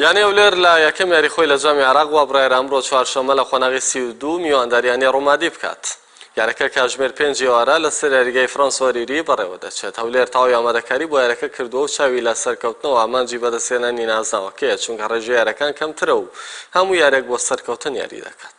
یانەی هەولێر لە یەکەم یاری خۆی لە جامی عێراق وابڕیارە ئەمڕۆ چوارشەممە لە قۆناغی سی و دوو میوانداری یانەی ڕومادی بکات. یارەکە کاتژمێر پێنج ئێوارە لەسەر یاریگای فرەنس ئۆریری بەڕێوەدەچێت، هەولێر تەواوی ئامادەکاری بۆ یارەکە کردووە و چاوی لە سەرکەوتنەوە ئامانجی بەدەستهێنانی نازناوەکەیە، چونکە ڕێژەی یارەکان کەمترە و هەموو یارێک بۆ سەرکەوتن یاری دەکات.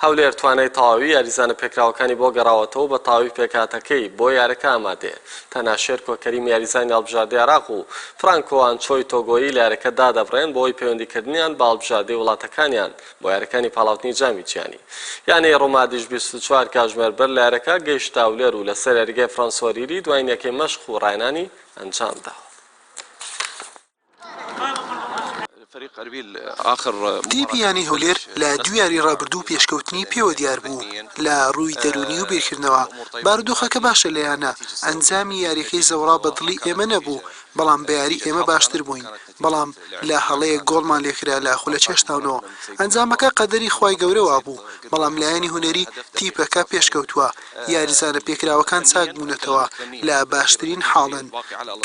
هەولێر توانای تەواوی یاریزانە پێکراوەکانی بۆ گەڕاوەتەوەو بە تەواوی پێکهاتەکەی بۆ یارەکە ئامادەیە، تەنها شێرکۆ کەریم یاریزانی هەڵبژاردەی عێراق و فرانکۆ ئانچۆی تۆگۆیی لە یارەکە دادەبڕێن بەهۆی پەیوەندیکردنیان بە هەڵبژاردەی وڵاتەکانیان بۆ یاریەکانی پاڵاوتنی جامی جیهانی. یانەی رومادیش بیست و چوار کاژمێر بەر لە یارەکە گەیشتە هەولێر و لەسەر یاریگای فرانسۆریری دواین یەکەی مەشق و راهێنانی ئەنجامداوە. تیپی یانەی هەولێر لە دوو یاری رابردوو پێشکەوتنی پێوە دیار بوو، لە رووی دەروونی و بیرکردنەوە بارودۆخەکە باشە لە یانە، ئەنجامی یارییەکەی زەوڕا بە دڵی ئێمە نەبوو، بەڵام بە یاری ئێمە باشتر بووین، بەڵام لە هەڵەیەک گۆڵمان لێکرا لە خولە چێشتاونەوە، ئەنجامەکە قەدەری خوای گەورە وابوو، بەڵام لایەنی هونەری تیپەکە پێشکەوتووە، یاریزانە پێکراوەکان چاکبوونەتەوە، لە باشترین حاڵن.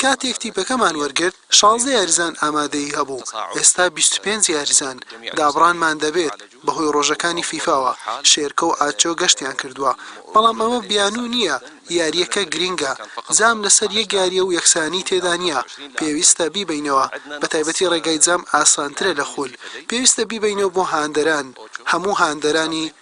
کاتێک تیپەکەمان وەرگرت، شازدە یاریزان ئامادەیی هەبوو، ئێستا بیست و پێنج یاریزان. دابڕانمان دەبێت، بەهۆی رۆژەکانی فیفاوە، شێرکۆ و ئاچۆ گەشتیان کردووە، بەڵام ئەمە بیانوو نییە، یارییەکە گرنگە، جام لەسەر یەک یارییە و یەکسانیی تێدا نییە، پێویستە بیبەینەوە، بەتایبەتی رێگای جام ئاسانترە لە خول، پێویستە بیبەینەوە بۆ هاندەران، هەموو هاندەرانی